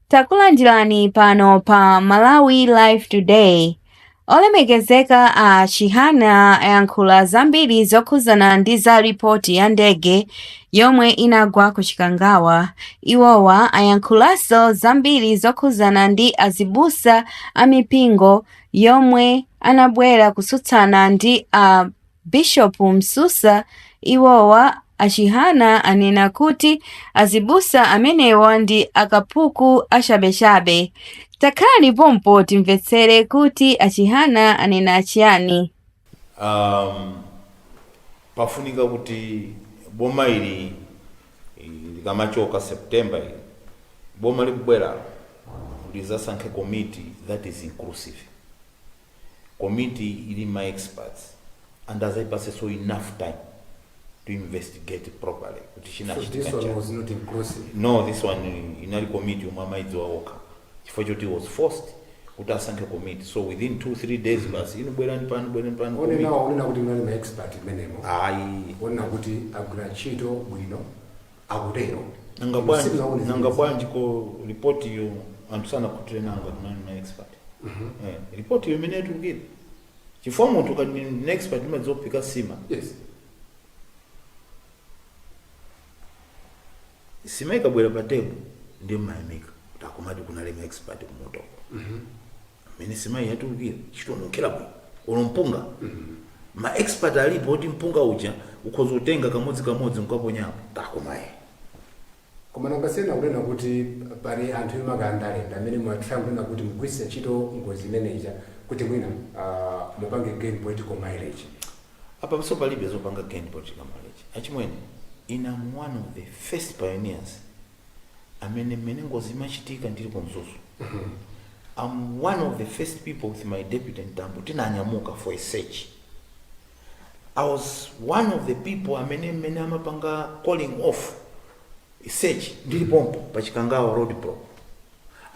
Takulandirani pano pa Malawi Life Today. Olemekezeka a Chihana ayankhula zambiri zokhudzana ndi za ripoti ya ndege yomwe inagwa ku Chikangawa. Iwowa ayankhulanso zambiri zokhudzana ndi azibusa a mipingo omwe anabwera kutsutsana ndi a Bishop Msusa iwowa a Chihana anena kuti azibusa amenewa ndi akapuku achabechabe. Takhala pompo timvetsere kuti a Chihana anena chiyani. Um, pafunika kuti boma ili likamachoka September ili boma likubwera lidzasankhe committee that is inclusive komiti ili ma experts and adzayipatsenso enough time to investigate properly kuti chinachitika nchani. No this one inali komiti yomwe amayidziwa wokha chifukwa choti he was forced kuti asankhe komiti so within 2 3 days basi inu bwerani pano bwerani pano komiti. Akunena kuti munali ma expert mmenemo. Ayi. Onena kuti agwira ntchito bwino. akutero. Nanga Inu bwanji, simunaone nanga zimenezi? bwanji ko report iyo anthu sanakhutire nayo ngati munali ma expert. Eh, report iyo mmene yatulukira. Chifukwa munthu akati ndi ndi expert amadziwa kuphika nsima. Yes. Nsima ikabwera pa table ndi mumayamika. Takumati kunali ma expert kumotoko. mmene nsimayi yatulukira ikununkhira bwino olo mpunga ma expert alipo oti mpunga uja ukhoza kutenga kamodzi kamodzi nkaponyapo kakoma Eh koma nanga si ena akunena kuti pali anthu ena andale ndi amene mutha kunena kuti mukugwiritsa ntchito ngozi imeneja kuti mwina ah, mupange gain political mileage apanso palibe zopanga gain political mileage achimwene ine am one of the first pioneers amene mmene ngozi imachitika ndili ku mzuzu I'm one of the first people with my deputy Mtambo tinanyamuka for a search I was one of the people amene mmene amapanga calling off a search ndili pompo pa chikangawa road block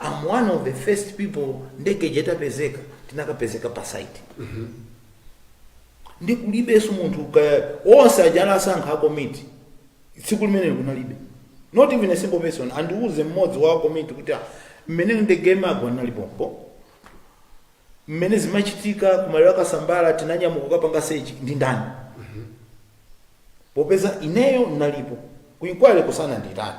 I'm one of the first people ndege ija itapezeka tinakapezeka pa site ndi kulibenso munthu ka- onse aja asankha akomiti tsiku limenelo kunalibe not even a single person andiuze mmodzi wa komiti kuti ah, mmene ndege imagwa ndinali pompo mmene zimachitika kumaliro a Kasambala tinanyamuka kukapanga sechi ndi ndani popeza ineyo ndinalipo ku inquiry ko sanandiitane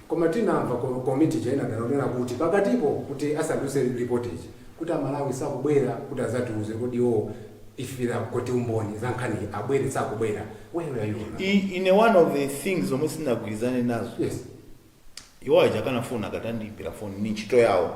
Koma tinamva kuti komiti ija inadandaula kunena kuti pakatipo kuti asanatulutse report ija kuti a Malawi sakubwera kuti azatiuze kodi iwowo if there are kuti umboni za nkhaniyi abwere sakubwera where were you on that? I, ine one of the things zomwe sindinagwirizane nazo Yes. iwo aja akanafuna akatandiimbira foni ndi ntchito yawo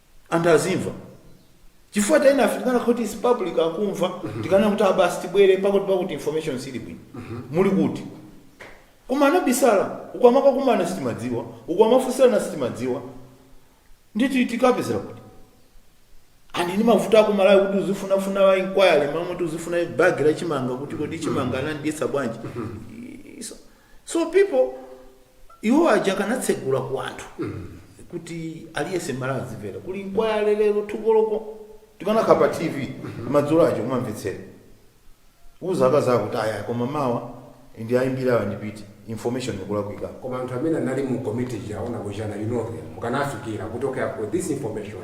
anthu azimva chifukwa tena afe tikanakhala kuti it's public akumva tikana kuti abasi tibwere pakuti pakuti information sili bwino muli kuti koma anabisala uko amakakumana sitimadziwa uko amafunsirana sitimadziwa nditi tikupezera kuti and ndi mavuto ako malawi kuti uzifunafuna wa inquiry mamwe kuti uzifuna bagi la chimanga kuti kodi chimanga amayesa bwanji So people iwo aja akanatsegula ku anthu kuti aliyese Mmalawi azimvera kuli inquiry lero ku Thyolo uko tikanakhala pa tv madzulo aja kumamvetsera uziwauza kuti ayi koma mawa ndiwayimbira awa ndili ndi information ikulakwika koma anthu amene anali mu committee ija aona kuchana you know them mukanafikira kuti okay I've got this information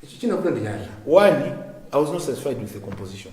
ichi chinakuta ndi chani one i was not satisfied with the composition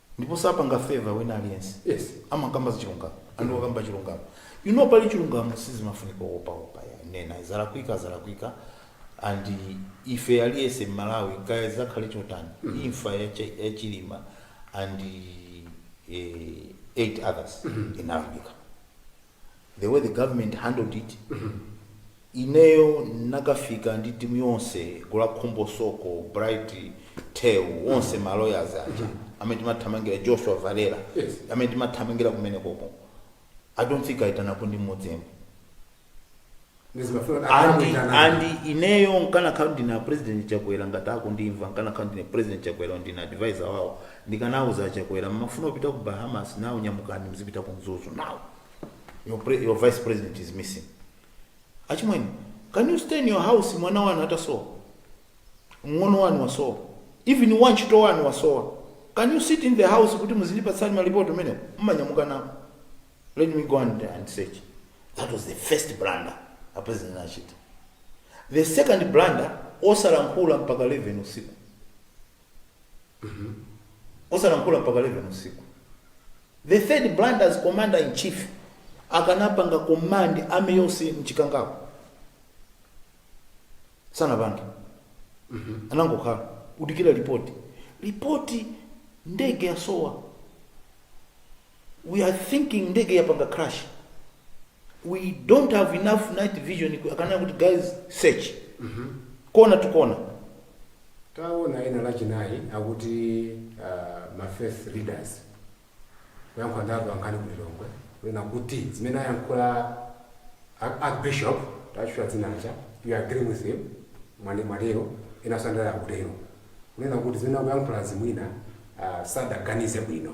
ndipo sapanga favor wina aliyense yes amakamba zachilungamo and wakamba chilungamo you know pali chilungamo sizimafunika kuopaopa ayi nena zalakwika zalakwika and ife aliyese mmalawi kaya zikhale chotani imfa ya Chi- ya chilima and eh, eight others inalakwika the way the government handled it ineyo ndinakafika ndi timu yonse gulu la khumbo soko, bright theu onse ma lawyers aja amene timathamangira joshua valela Yes. amene timathamangira kumenekoko i don't think aitanako ndi mmodzi yemwe and and ineyo nkanakhala ndine a president chakwera ngati akundimva nkanakhala ndine president chakwera ndine advisor wawo ndikanauza chakwera mmafuna kupita ku bahamas nawo nyamukani mzipita ku mzuzu nawo your, pre, your vice president is missing achimwene can you stay in your house mwana wanu atasowa mng'ono wanu wasowa even wantchito wanu wasowa can you sit in the house kuti muzindipatsa malipoti amenewo mmanyamuka nawo Let me go and, and search. That was the first blunder a president anachita. The second blunder osalankhula mpaka 11 usiku. Osalankhula mpaka 11 usiku. The third blunder as commander in chief akanapanga command army yonse mChikangawamo. Sanapange. Anangokhala kudikira ripoti. Ripoti ndege yasowa. we are thinking ndege yapanga crash we don't have enough night vision ku- akanena kuti guys search kona to kona taona ena lachinayi akuti uh, ma faith leaders kuyankhula ndi atolankhani ku Lilongwe kunena kuti zimene ayankhula a- archbishop tatchula dzinacha you agree with him mwani mwalero ena ngati akutero kunena kuti zimene akuyankhula zi mwina uh, sadaganize bwino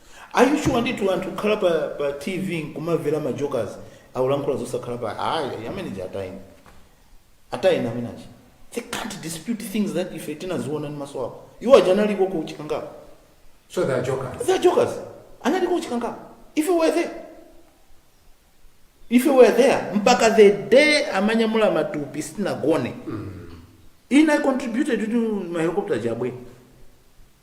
Are you sure ndithu anthu kukhala pa pa TV nkumavela ma jokers akulankhula zosakhala bwino ayi ameneja atayeni. Atayeni ameneja. They can't dispute things that ife tinaziona ndi maso awo. Iwo aja analiko ku chikangawa. So they are jokers. They are jokers. Analiko ku chikangawa. If you were there. If you were there mpaka the day amanyamula matupi sitinagone. Ina contributed to ma helicopter aja abwere.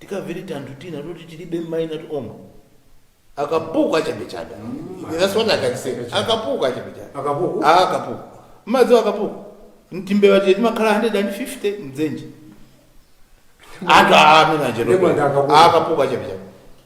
tikawiri tanthu tina toti tilibe maina to omwe akapuku achabechabe that's what i can say akapuku achabechabe Akapuku? Ah, akapuku mmadziwa akapuku ntimbewa tija timakhala 150 mdzenje anthu amene Ndipo ndi akapuku. akapuku achabechabe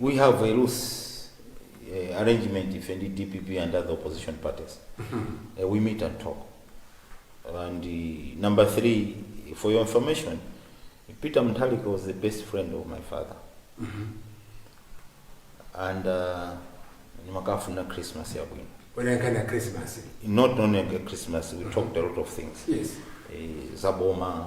we have a loose eh, arrangement ife ndi dpp and other opposition parties Eh, we meet and talk and eh, number three for your information peter mutharika was the best friend of my father and uh, ndimakafuna christmas yabwino Wanankana Christmas. not only a christmas we talked a lot of things Yes. eh, zaboma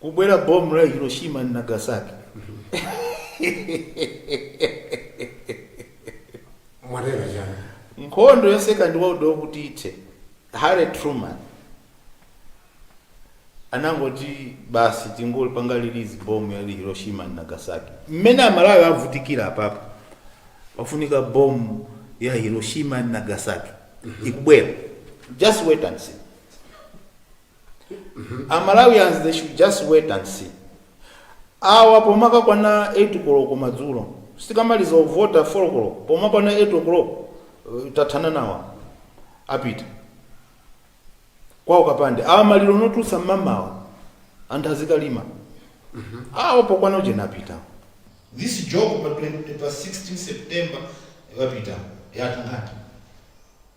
kubwera bomba la hiroshima ndi nagasaki inathera chani nkhondo ya second world war kuti ithe harry truman anangoti basi tingolipanga release bomba ya hiroshima ndi nagasaki mmene amalawi avutikira apapo pafunika bomba ya hiroshima ndi nagasaki ikubwera just wait and see amalawians they should just wait and see awa pomakakwana 8 koloko madzulo tikamaliza uvota 4 koloko pomakwana 8 o'clock eh, tathana nawa apita kwawo kapande awa maliro nkutulutsa mmamawa anthu azikalima awa pokwana ujeni apita this joke pa 20 pa 16 september ikapita yatha ngati